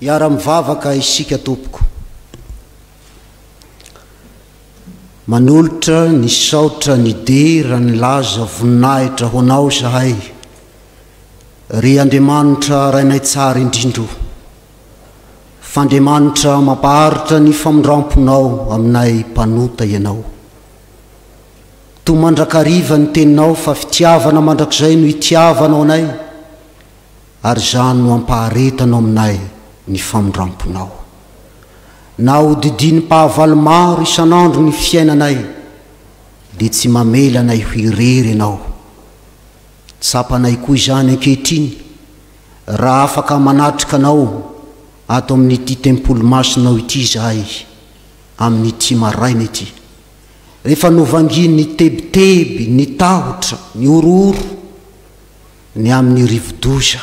Hiara-mivavaka isika tompoko. Manolotra ny saotra ny dera ny laza voninahitra ho anao izahay, ry Andriamanitra Rainay Tsara indrindro. f'Andriamanitra mampaharitra ny famindramponao aminay mpanota ianao. Toa mandrakariva ny teninao fa fitiavana mandrakizay no itiavanao anay ary izany no ampaharetanao aminay ny famindramponao. Na hodidinim-pahavalo maro isan'andro ny fiainanay dia tsy mamela anay ho irery ianao. Tsapanay koa izany ankehitriny Raha afaka manatrika anao ato amin'ity tempoly masinao ity izahay, amin'ity maraina ity, rehefa novangian'ny tebiteby, ny tahotra, ny horohoro, ny amin'ny rivodoza.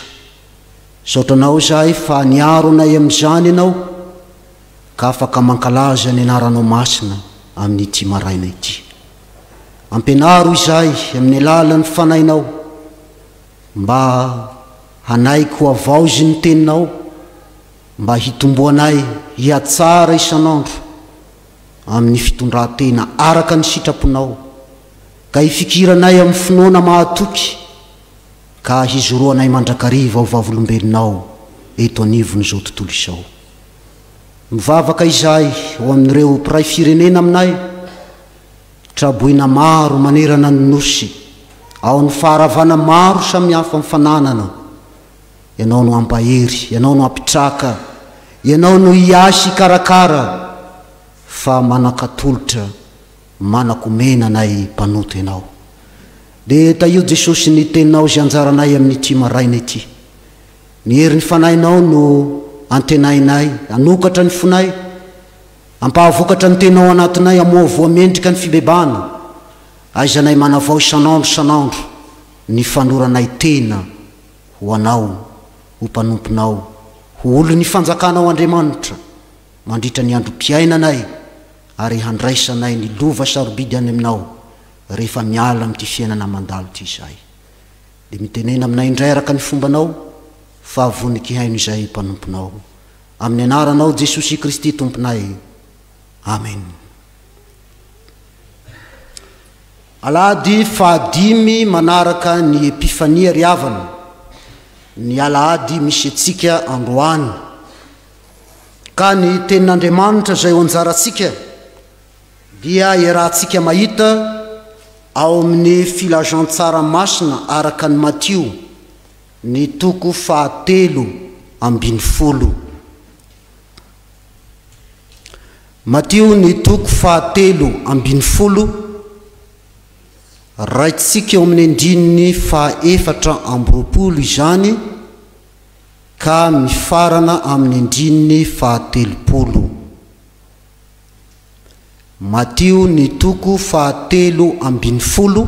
Misaotra Anao izahay fa niaro anay amin'izany Ianao, ka afaka mankalaza ny Anaranao Masina amin'ity maraina ity. Ampianaro izahay amin'ny alalan'ny Fanahinao, Mba hanaiky ho havaozy ny teninao, mba hitomboanay hihatsara isan'andro amin'ny fitondran-tena araka ny sitraponao, ka hifikiranay amin'ny finoana mahatoky, ka hijoroanay mandrakariva ho vavolombelonao eto anivon'izao tontolo izao. Mivavaka izahay ho amin'ireo mpiray firenena aminay, Traboina maro manerana ny Nosy, ao amin'ny faharavana maro samihafa mifananana, ianao no hampahery, ianao no hampitraka, ianao no hiasy hikarakara, fa manan-katolotra, manan-komena anay mpanota ianao. Dia tahio Jesosy ny Teninao izay anjaranay amin'ity maraina ity. Ny herin'ny Fanahinao no antenainay hanokatra ny fonay, Ampahavokatra ny tena ao anatinay Amoavoa mendrika ny fibebahana Aizanay manavao isan'andro isan'andro Ny fanoranay tena ho Anao Ho mpanomponao Ho olon'ny fanjakanao Andriamanitra Mandritra ny androm-piainanay Ary handraisanay ny lova sarobidy any Aminao Rehefa miala amin'ity fiainana mandalo ity izahay Dia mitenena aminay indray araka ny fombanao Fa vonon-kihaino izay Mpanomponao Amin'ny anaranao Jesosy Kristy Tomponay. Amen. Alahady fahadimy manaraka ny Epifania ry havana, ny Alahady misy antsika androany. Ka ny tenin'Andriamanitra izay ho anjarantsika dia iarahantsika mahita ao amin'ny filazantsara masina araka ny Matio Ny toko fahatelo ambin'ny folo. Matio ny toko fahatelo ambin'ny folo, raintsika eo amin'ny andininy fahaefatra amby roapolo izany ka mifarana amin'ny andininy fahatelopolo. Matio ny toko fahatelo ambin'ny folo.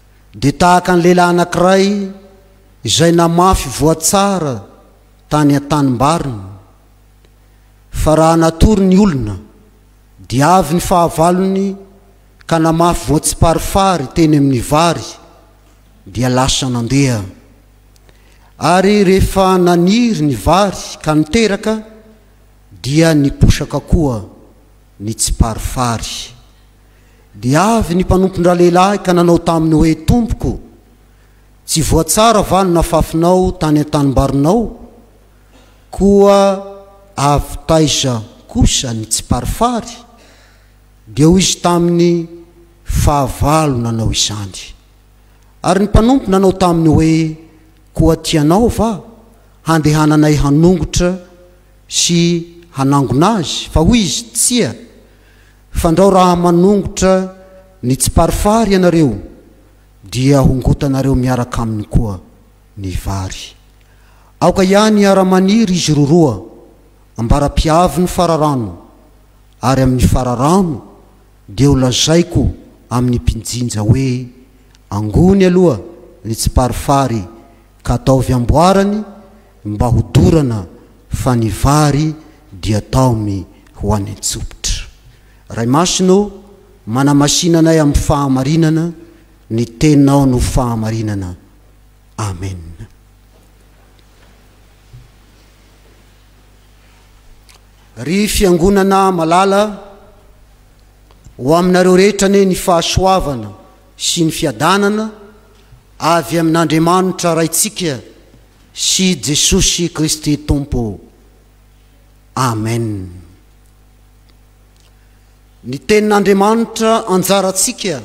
dia tahaka ny lehilahy anankiray izay namafy voatsara tany an-tanimbariny. Fa raha natory ny olona, dia avy ny fahavalony ka namafy voantsiparifary teny amin'ny vary, dia lasa nandeha. Ary rehefa naniry ny vary ka niteraka, dia niposaka koa ny tsiparifary. Dia avy ny mpanompon-dralehilahy ka nanao taminy hoe, Tompoko, tsy voatsara va ny nafafinao tany an-tanimbarinao? Koa avy taiza kosa ny tsiparifary? Dia hoy izy taminy, Fahavalo nanao izany. Ary ny mpanompo nanao taminy hoe, Koa tianao va handehananay hanongotra sy hanangona azy? Fa hoy izy, Tsia, Fandrao raha manongotra ny tsiparifary ianareo dia hongotanareo miaraka aminy koa ny vary. Aoka ihany hiara-maniry izy roroa ambara-pihavin'ny fararano, ary amin'ny fararano dia holazaiko amin'ny mpinjinja hoe, Angony aloha ny tsiparifary ka ataovy amboarany Mba ho dorana fa ny vary dia taomy ho any an-tsopitra. Ray Masina ô, manamasina anay amin'ny fahamarinana, ny Teninao no fahamarinana. Amen. Ry Fiangonana malala, ho aminareo rehetra anie ny fahasoavana sy ny fiadanana avy amin'Andriamanitra Raintsika Sy Jesosy Kristy Tompo. Amen. Ny Tenin'Andriamanitra anjarantsika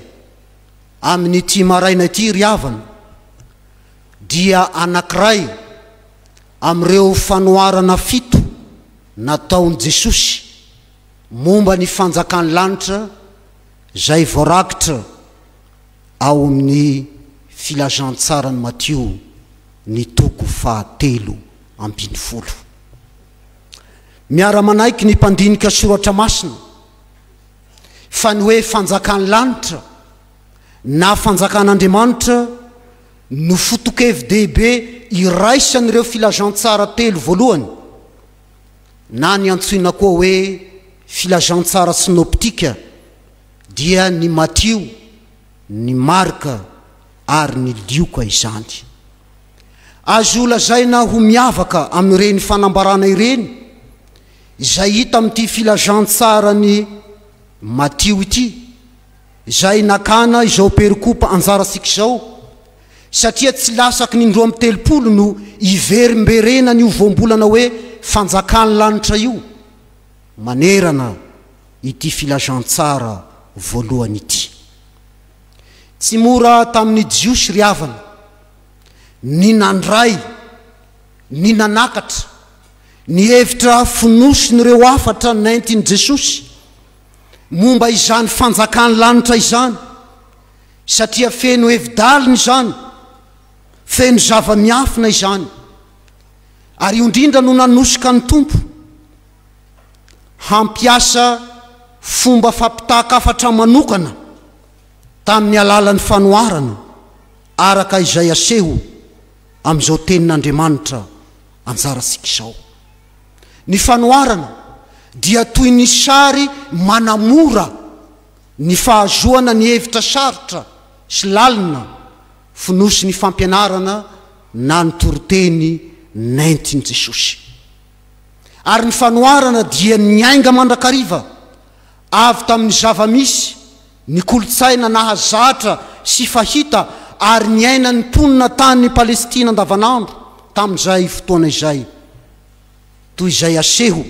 amin'ity maraina ity ry havana dia anankiray amin'ireo fanoharana fito nataon'i Jesosy momba ny fanjakan'ny lanitra izay voarakitra ao amin'ny Filazantsaran'i Matio ny toko fahatelo ambin'ny folo. Miara-manaiky ny mpandinika soratra masina fa ny hoe fanjakan'ny lanitra na fanjakan'Andriamanitra no foto-kevi-dehibe iraisan'ireo Filazantsara telo voalohany, na ny antsoina koa hoe Filazantsara Sinoptika. dia ny Matio, ny Marka ary ny Lioka izany. Azo lazaina ho miavaka amin'ireny fanambarana ireny izay hita amin'ity filazantsaran'i Matio ity, izay nakana izao perikopa anjarantsika izao, satria tsy lasaky ny indroa amby telopolo no iverimberenan'io voambolana hoe Fanjakan'ny lanitra io manerana ity filazantsara voalohany ity. Tsy mora tamin'ny Jiosy ry havana ny nandray, ny nanakatra, ny hevitra fonosin'ireo hafatra nentin'i Jesosy momba izany Fanjakan'ny lanitra izany, satria feno hevi-dalina izany, feno zava-miafina izany. Ary io indrindra no nanosika ny Tompo. hampiasa fomba fampitahan-kafatra manokana tamin'ny alalan'ny fanoharana, araka izay aseho amin'izao tenin'Andriamanitra anjarantsika izao. Ny fanoharana dia toy ny sary manamora ny fahazoana ny hevitra sarotra sy lalina fonosin'ny fampianarana na ny toriteny nentin'i Jesosy. Ary ny fanoharana dia niainga mandrakariva avy tamin'ny zava-misy, ny kolontsaina nahazatra sy fahita ary niainan'ny mponina tany Palestina andavanandro tamin'izay fotoana izay, toy izay aseho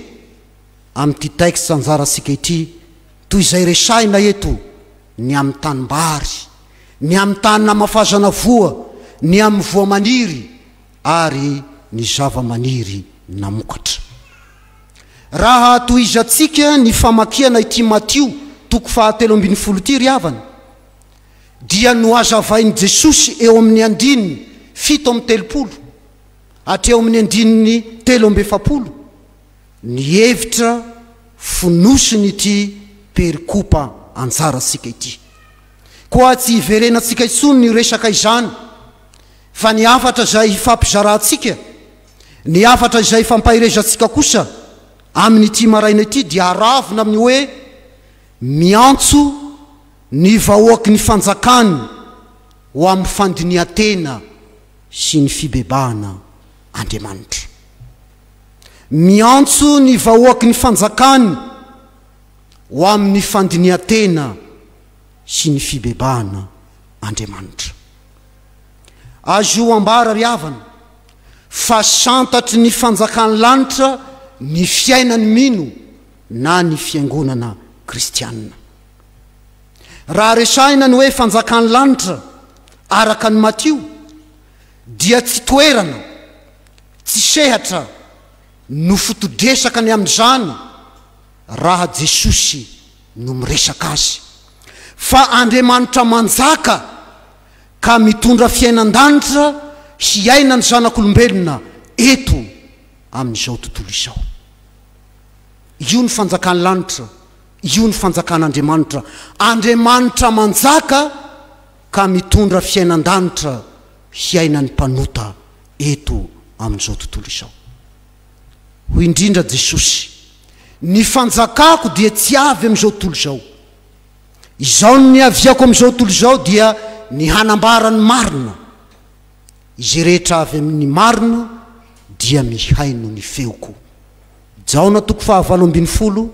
amin'ity texte anjarantsika ity, toy izay resahina eto, ny amin'ny tanimbary, ny amin'ny tany namafazana voa, ny amin'ny voa maniry ary ny zava-maniry namokatra. Raha tohizantsika ny famakiana ity Matio toko fahatelo ambin'ny folo ity ry havana, dia nohazavain'i Jesosy eo amin'ny andininy fito amby telopolo hatreo amin'ny andininy telo amby efapolo ny hevitra fonosin'ity perikopa anjarantsika ity. Koa tsy hiverenantsika intsony ny resaka izany Fa ny hafatra izay hifampizarantsika, ny hafatra izay hifampaherezantsika kosa amin'ity maraina ity dia aravona amin'ny hoe miantso ny vahoaky ny fanjakany ho amin'ny fandinihan-tena sy ny fibebahana Andriamanitra. Miantso ny vahoaky ny fanjakany ho amin'ny fandinihan-tena sy ny fibebahana Andriamanitra. Azo ambara ry havana fa santatry ny fanjakan'ny lanitra ny fiainan'ny mino na ny fiangonana kristianina. Raha resahina ny hoe fanjakan'ny lanitra araka an'i Matio dia tsy toerana, tsy sehatra no foto-dresaka ny amin'izany raha Jesosy no miresaka azy fa Andriamanitra manjaka. ka mitondra fiainan-danitra hiaina ny zanak'olombelona eto amin'izao tontolo izao. Io ny fanjakan'ny lanitra, io ny fanjakan'Andriamanitra. Andriamanitra manjaka ka mitondra fiainan-danitra hiainan'ny mpanota eto amin'izao tontolo izao. Hoy indrindra Jesosy, Ny fanjakako dia tsy avy amin'izao tontolo izao. Izao no niaviako amin'izao tontolo izao dia ny hanambara ny marina. Izay rehetra avy amin'ny marina dia mihaino ny feoko. Jaona toko fahavalo ambin'ny folo,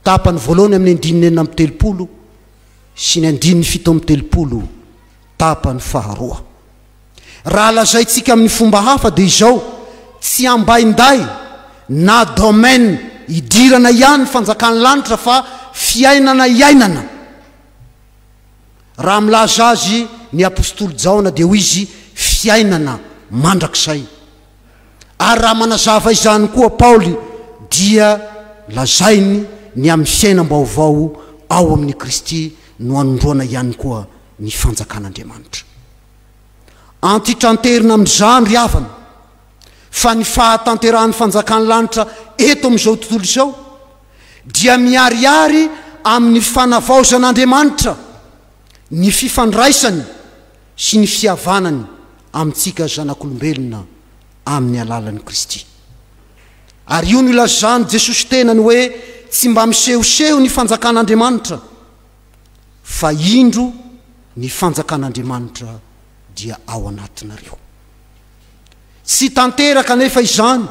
tapany voalohany amin'ny andininy enina amby telopolo sy ny andininy fito amby telopolo, tapany faharoa. Raha lazaintsika amin'ny fomba hafa dia izao, tsy ambainday na domaine idirana ihany ny fanjakan'ny lanitra fa fiainana iainana. Raha milaza azy ny apostoly Jaona dia hoy izy fiainana mandrakizay. Ary raha manazava izany koa Paoly dia lazainy ny amin'ny fiainam-baovao ao amin'i Kristy no anondroana ihany koa ny fanjakan'Andriamanitra. Antitranterina amin'izany ry havana fa ny fahatanterahan'ny fanjakan'ny lanitra eto amin'izao tontolo izao dia miharihary amin'ny fanavaozan'Andriamanitra ny fifandraisany sy ny fihavanany amintsika zanak'olombelona amin'ny alalan'i Kristy. Ary io no ilazan'i Jesosy tenany hoe tsy mba misehoseho ny fanjakan'Andriamanitra. fa indro ny fanjakan'Andriamanitra dia ao anatinareo. Tsy tanteraka anefa izany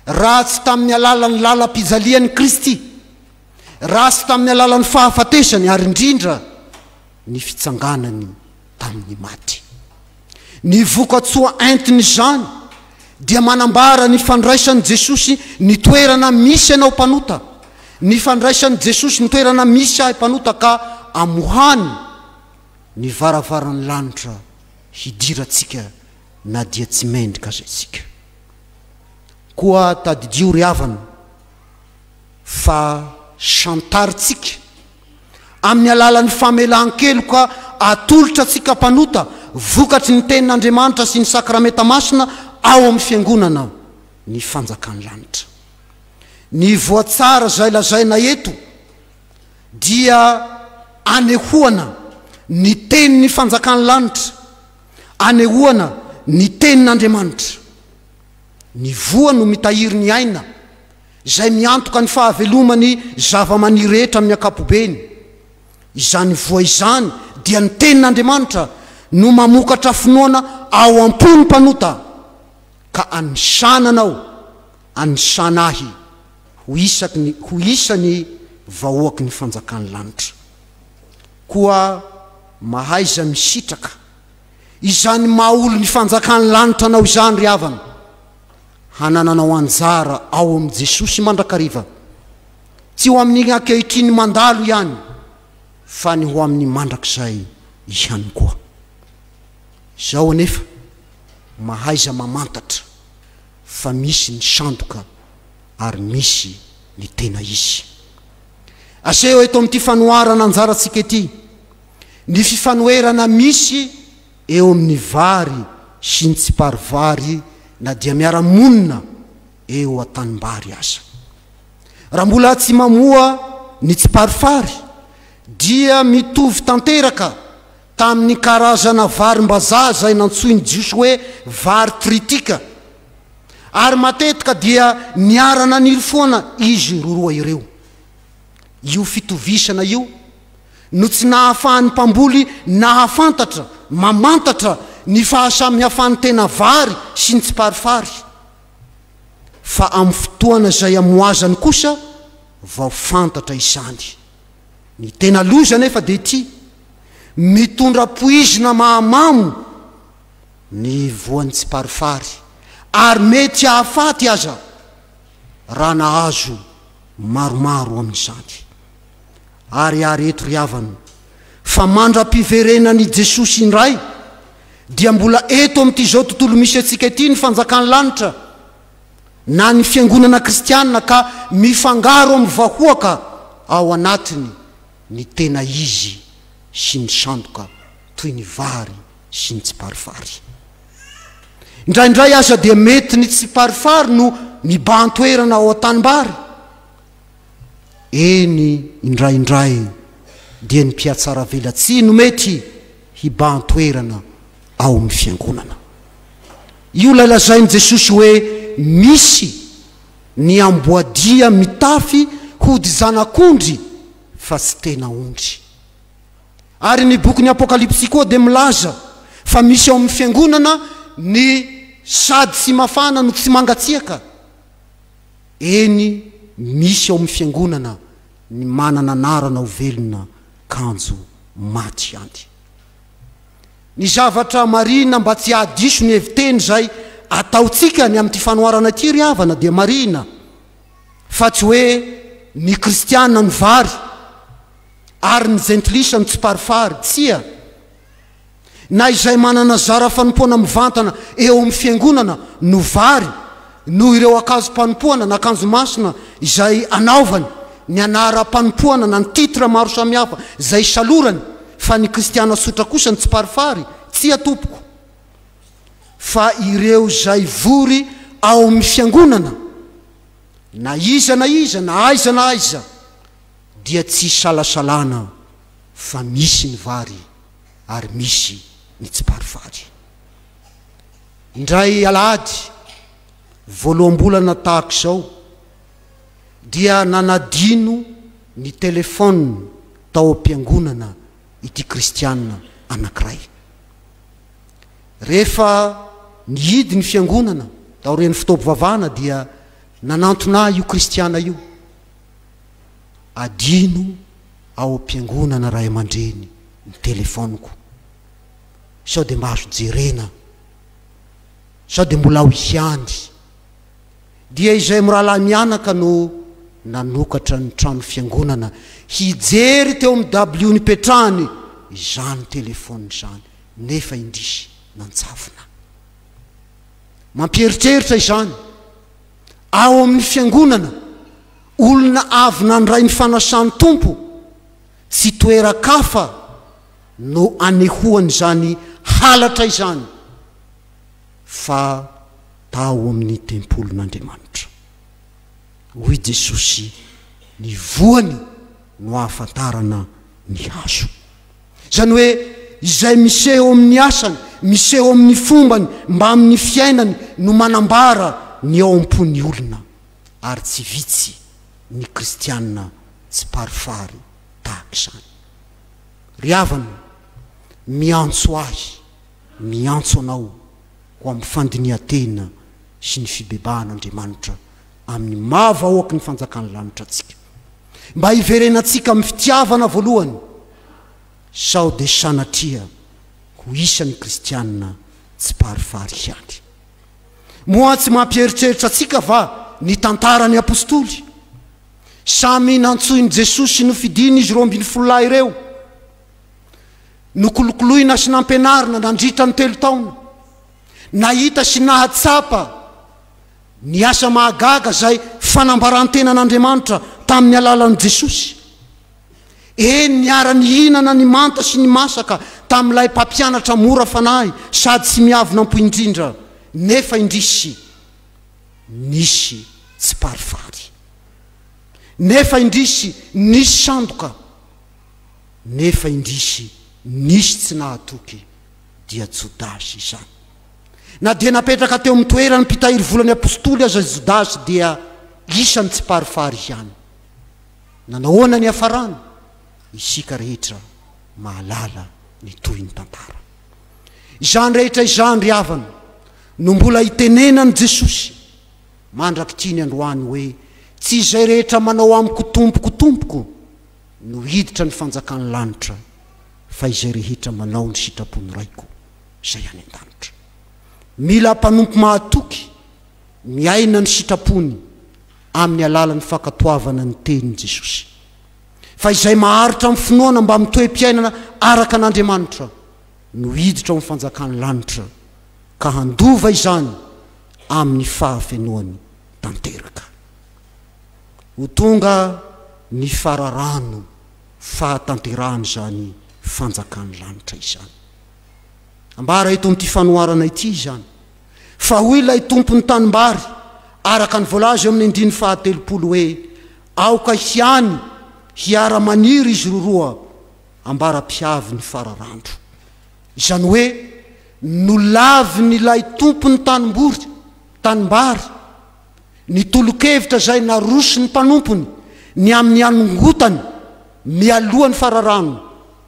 raha tsy tamin'ny alalan'ny lalam-pijalian'i Kristy, raha tsy tamin'ny alalan'ny fahafatesany ary indrindra ny fitsanganany tamin'ny maty. Ny vokatsoa entin'izany dia manambara ny fandraisan'i Jesosy ny toerana misy anao mpanota, ny fandraisan'i Jesosy ny toerana misy ahy mpanota ka amohany ny varavaran'ny lanitra hidirantsika na dia tsy mendrika aza isika. Koa tadidio ry havana, fa chantar tsika amin'ny alalan'ny famelan-keloka atolotra tsika mpanota vokatry ny tenin'Andriamanitra sy ny sakramenta masina ao amin'ny fiangonana ny fanjakan'ny lanitra. Ny voatsara izay lazaina eto dia anehoana ny tenin'ny fanjakan'ny lanitra, anehoana ny tenin'Andriamanitra. Ny voa no mitahiry ny aina, izay miantoka ny fahaveloman'ny zavamaniry rehetra amin'ny ankapobeny. Izany voa izany dia ny Tenin'Andriamanitra no mamokatra finoana ao am-pon'ny mpanota, ka anisana anao, anisana ahy ho isaky ny ho isan'ny vahoaky ny fanjakan'ny lanitra. Koa mahaiza misitraka izany maha olon'ny fanjakan'ny lanitra anao izany ry havana. hanananao anjara ao amin'i Jesosy mandrakariva, tsy ho amin'ny ankehitriny mandalo ihany, fa ny ho amin'ny mandrakizay ihany koa. Izao anefa, mahaiza mamantatra fa misy ny sandoka ary misy ny tena izy. Aseho eto amin'ity fanoharana anjarantsika ity ny fifanoherana misy eo amin'ny vary sy ny tsiparivary na dia miara-monina eo an-tanimbary aza. Raha mbola tsy mamoa ny tsiparifary dia mitovy tanteraka tamin'ny karazana varimbazaha izay nantsoin'ny Jiosy hoe vary tritika, ary matetika dia niara-naniry foana izy roroa ireo. Io fitovisana io no tsy nahafahan'ny mpamboly nahafantatra, mamantatra ny fahasamihafan'ny tena vary sy ny tsiparifary. Fa amin'ny fotoana izay amoazany kosa vao fantatra izany. Ny tena loza anefa dia ity, mitondra poizina mahamamo ny voan'ny tsiparifary, ary mety hahafaty aza. raha nahazo maromaro amin'izany. Ary ary eto ry havana, fa mandra-piverenan' i Jesosy indray, dia mbola eto amin'it'izao tontolo misy antsika ity ny fanjakan'ny lanitra, na ny fiangonana kristiana, ka mifangaro amin'ny vahoaka ao anatiny ny tena izy sy ny sandoka toy ny vary sy ny tsiparifary. Indraindray aza dia mety ny tsiparifary no mibahan-toerana ao an-tanimbary. Eny, indraindray dia ny mpihatsaravelatsihy no mety hibahan-toerana ao amin'ny fiangonana. Io ilay lazain'i Jesosy hoe misy ny amboadia mitafy hodi-janak'ondry fa tsy tena ondry. Ary ny bokin'ny Apokalypsy koa dia milaza fa misy ao amin'ny fiangonana ny sady sy mafana no tsy mangatsiaka. Eny, misy ao amin'ny fiangonana ny manana anarana ho velona kanjo maty ihany. Ny zavatra marihina mba tsy hahadiso ny hevi-teny izay ataontsika ny amin'ity fanoharana ity ry havana dia marihina fa tsy hoe ny kristiana no vary, ary ny jentilisa mitsiparifary, tsia, na izay manana zara fanompoana mivantana eo amin'ny fiangonana no vary noho ireo akazom-panompoana na kanjo masina izay anaovany, ny anaram-panompoana na ny titre maro samihafa izay isalorany, fa ny kristiana sotra kosa ny tsiparifary, tsia tompoko, fa ireo izay vory ao amin'ny fiangonana, na iza na iza na aiza na aiza. dia tsy isalasalana fa misy ny vary ary misy ny tsiparivary. Indray alahady voaloham-bolana tahaka izao dia nanadino ny telefaoniny tao am-piangonana ity kristiana anankiray. Rehefa nihidy ny fiangonana taorian'ny fotoam-pivavahana dia nanantona ahy io kristiana io. Adino ao am-piangonana ray aman-dreny ny telefaoniko sao dia mba azo jerena sao dia mbola ao ihany. Dia izay mirahalahy mianaka no nanokatra ny trano fiangonana hijery teo amin'ny dabilio nipetrahany izany telefaoniny izany nefa indrisy nanjavona. Mampieritreritra izany. ao amin'ny Fiangonana, olona avy nandray ny fanasan'ny Tompo, tsy toeran-kafa no anehoan'izany halatra izany fa tao amin'ny tempolin'Andriamanitra. Hoy i Jesosy, Ny voany no ahafantarana ny hazo. Izany hoe izay miseho amin'ny asany, miseho amin'ny fombany, mbamin'ny fiainany no manambara ny ao am-pon'ny olona. Ary tsy vitsy ny kristiana tsiparifary tahaka izany. Ry havana, miantso ahy, miantso anao ho amin'ny fandinihan-tena sy ny fibebahan'Andriamanitra amin'ny maha vahoaky ny fanjakan'ny lanitra antsika, mba hiverenantsika amin'ny fitiavana voalohany, sao dia sanatria ho isan'ny kristiana tsiparifary ihany. Moa tsy mampieritreritra antsika va ny tantaran'ny apostoly? Samy nantsoin'i Jesoa sy nofidiny izy roa ambin'ny folo lahy ireo. Nokolokoloina sy nampianarina nandritra ny telo taona. Nahita sy nahatsapa Ny asa mahagaga izay fanambaran-tenan'Andriamanitra tamin'ny alalan'i Jesosy. Eny, niara-nihinana ny manta sy ny masaka tamin'ilay mpampianatra mora fanahy sady tsy miavonam-po indrindra, nefa indrisy, nisy tsiparifary. Nefa indrisy, nisy sandoka. Nefa indrisy, nisy tsy nahatoky, dia Jodasy izany. Na dia napetraka teo amin'ny toeran'ny mpitahiry volan'ny apostoly aza i Jodasy dia isan'ny tsiparifary ihany. Nanahoana ny hafarany? Isika rehetra mahalala ny tohin'ny tantara. Izany rehetra izany ry havana no mbola hitenenan'i Jesosy mandrakitriny androany hoe, Tsy izay rehetra manao amiko Tompoko, Tompoko no hiditra ny fanjakan'ny lanitra fa izay rehetra manao ny sitrapon'ny Raiko. izay any an-danitra. Mila mpanompo mahatoky, miaina ny sitrapony amin'ny alalan'ny fankatoavana ny tenin'i Jesosy. Fa izay maharitra amin'ny finoana mbamin'ny toe-piainana araka an'Andriamanitra no hiditra ao amin'ny fanjakan'ny lanitra, ka handova izany amin'ny fahafenoany tanteraka. Ho tonga ny fararano fahatanterahan'izany fanjakan'ny lanitra izany. Ambara eto amin'ity fanoharana ity izany fa hoy ilay tompon'ny tanimbary araka ny voalaza eo amin'ny andininy fahatelopolo hoe aoka hiany hiara-maniry izy roroa ambara-pihavy ny fararandro. Izany hoe nolavin'ilay tompon'ny tanimbory, tanimbary, ny tolokevitra izay naroson'ny mpanompony ny amin'ny hanongotany mialoha ny fararano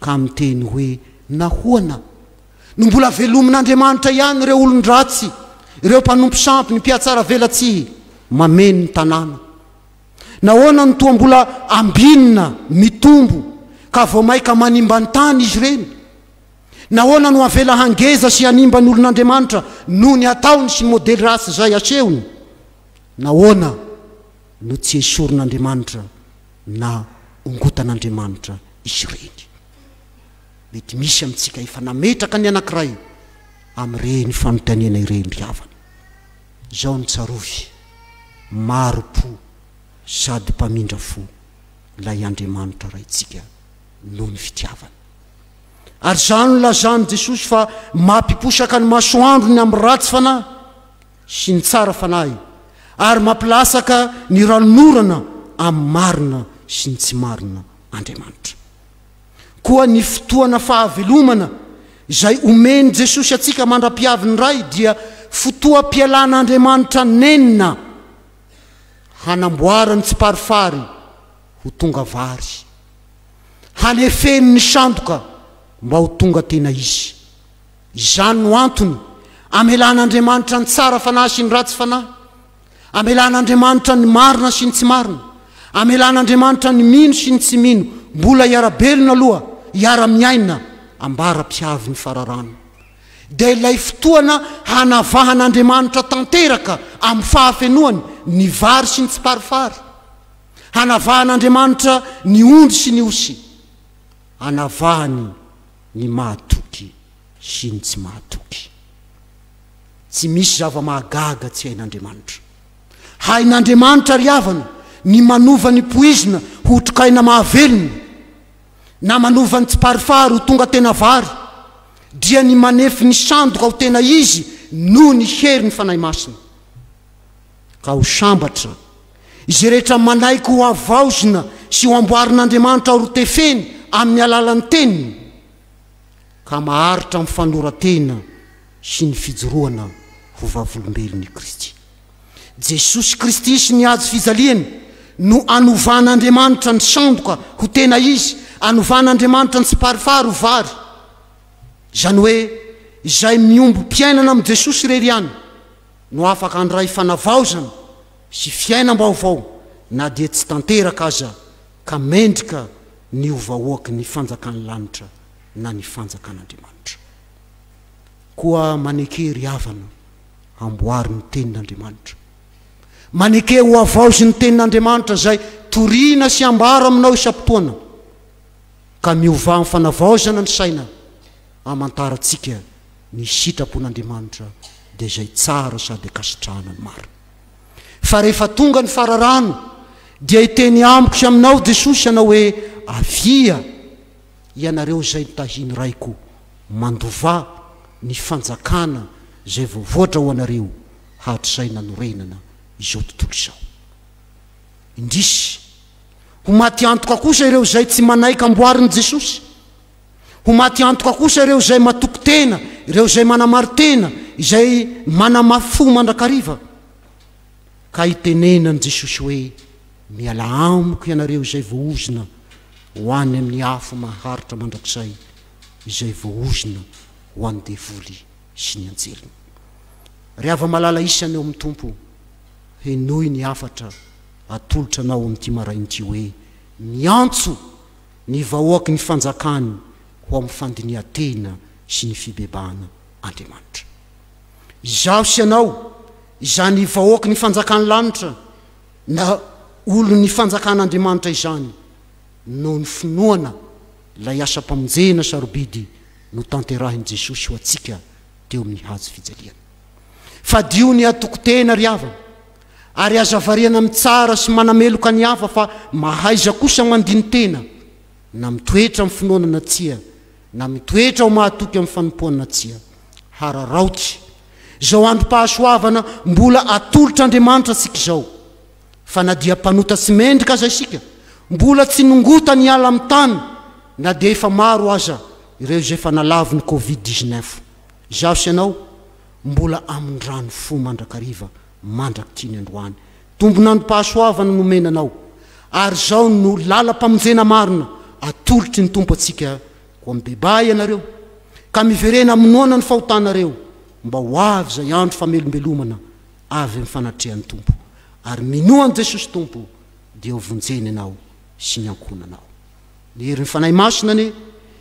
Ka miteny hoe, Nahoana? No mbola velomin'Andriamanitra ihany ireo olon-dratsy, ireo mpanompo sampy, ny mpihatsaravelatsihy, mameno ny tanàna? Nahoana no toa mbola ambinina, mitombo, ka vao maika manimba ny tany izy ireny? Nahoana no avela hangeza sy hanimba ny olon'Andriamanitra noho ny ataony sy ny modely ratsy izay asehony? Nahoana no tsy esorin'Andriamanitra na ongotan'Andriamanitra izy ireny. Mety misy amintsika efa nametraka ny anankiray amin'ireny fanontaniana ireny ry havana. Izao no tsarovy, Mari-po sady mpamindra fo ilay Andriamanitra Raintsika noho ny fitiavany. Ary izany no lazan'i Jesosy fa mampiposaka ny masoandrony amin'ny ratsy fanahy. sy ny tsara fanahy ary mampilasaka ny ranon'orana amin'ny marina sy ny tsy marina Andriamanitra. Koa ny fotoana fahavelomana izay omen'i Jesosy antsika mandra-piavin'ny Ray dia fotoam-pialan'Andriamanitra nenina hanamboarany tsiparifary ho tonga vary, hanefeny ny sandoka mba ho tonga tena izy. Izany no antony amelan'Andriamanitra ny tsara fanahy sy ny ratsy fanahy, amelan'Andriamanitra ny marina sy ny tsy marina, amelan'Andriamanitra ny mino sy ny tsy mino mbola hiara-belona aloha, hiara-miaina ambara-pihavy ny fararano. Dia ilay fotoana hanavahan'Andriamanitra tanteraka amin'ny fahafenoany ny vary sy ny tsiparifary, hanavahan'Andriamanitra ny ondry sy ny osy, hanavahany ny mahatoky sy ny tsy mahatoky. Tsy misy zava-mahagaga tsy hain'Andriamanitra. Hain'Andriamanitra ry havana ny manova ny poizina ho trkaina mahavelona, na manova ny tsiparifary ho tonga tena vary, dria ny manefy ny sandoka ho tena izy noho ny herin'ny Fanahy Masina. Ka ho sambatra izay rehetra manaiky ho havaozina sy ho amboarin'Andriamanitra horotefeny amin'ny alalan'ny Teniny, ka maharitra amin'ny fanoran-tena sy ny fijoroana ho vavolombelon' i Kristy. Jesosy Kristy sy ny hajo fijaliany no anovan'Andriamanitra ny sandoka ho tena izy, anovan'Andriamanitra ny tsiparifary ho vary. Izany hoe izay miombom-piainana amin'i Jesosy irery ihany. no afaka handray fanavaozana sy fiainam-baovao na dia tsy tanteraka aza ka mendrika ny ho vahoaky ny fanjakan'ny lanitra na ny fanjakan'Andriamanitra. Koa maneke ry havana, amboary ny tenin'Andriamanitra. Maneke ho havaozy ny tenin'Andriamanitra izay toriana sy ambara aminao isam-potoana, ka miovà amin'ny fanavaozana ny saina. Hamantarantsika ny sitrapon'Andriamanitra dia izay tsara sady ankasitrahana ny marina. Fa rehefa tonga ny fararano dia hiteny amiko sy aminao Jesosy hanao hoe, Avia, ianareo izay notahin'ny Raiko, mandovà ny fanjakana izay voavoatra ho anareo hatrizay nanorenana izao tontolo izao. Indrisy, ho maty antoka kosa ireo izay tsy manaiky amboarin'i Jesosy. Ho maty antoka kosa ireo izay matoky tena, ireo izay manamari-tena, izay manamafy-fo mandrakariva. Ka itenenan'i Jesosy hoe, Mialà amiko ianareo izay voaozona, ho any amin'ny afo maharitra mandrakizay, izay voaozona ho an'ny devoly sy ny anjeliny. Ry hava-malala isany ao amin'ny Tompo, henoy ny hafatra atolotra anao amin'ity maraina ity hoe, Miantso! ny vahoaky ny fanjakany ho amin'ny fandinihan-tena sy ny fibebahana Andriamanitra. Izaho sy ianao, izany vahoaky ny fanjakan'ny lanitra na olon'ny fanjakan'Andriamanitra izany, noho ny finoana ilay asam-pamonjena sarobidy notanterahin'i Jesosy ho antsika teo amin'ny hazo fijaliana. Fadio ny atoko-tena ry havana, Ary aza variana mitsara sy manameloka ny hafa fa mahaiza kosa mandini-tena na mitoetra amin'ny finoana na tsia, na mitoetra ho mahatoky amin'ny fanompoana na tsia. Hararaoty izao androm-pahasoavana mbola atolotr'Andriamanitra antsika izao, fa na dia mpanota sy mendrika aza isika, mbola tsy nongotany hiala amin'ny tany na dia efa maro aza ireo izay efa nalavo ny covid dix-neuf. Izaho sy ianao mbola amin-drano fo mandrakariva mandrakitry ny androany. Tombon'androm-pahasoavana nomena anao, ary izao no lalam-pamonjena marina atolotry ny Tompo antsika, Koa mibebaha ianareo, ka miverena amin'ny noana ny fahotanareo, mba ho avy izay andro famelombelomana avy amin'ny fanatrehan'ny Tompo, ary minoa an'i Jesosy Tompo, dia ho vonjeny ianao sy ny ankohonanao. Ny herin'ny Fanahy Masina anie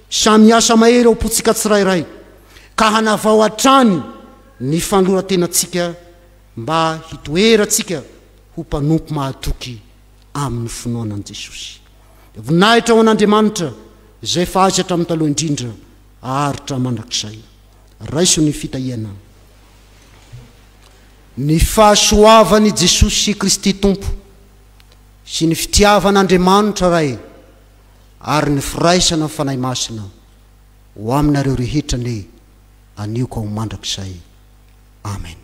samy miasa mahery ao am-pontsika tsirairay ka hanavao hatrany ny fanoloran-tenantsika mba hitoerantsika ho mpanompo mahatoky amin'ny finoana an'i Jesosy. Voninahitra ho an'Andriamanitra izay efa azy hatramin'ny taloha indrindra haharitra mandrakizay. Raiso ny fitahiana. Ny fahasoavan'i Jesosy Kristy Tompo sy ny fitiavan' Andriamanitra Ray ary ny firaisana ny Fanahy Masina ho aminareo rehetra anie anio ka ho mandrakizay. Amen.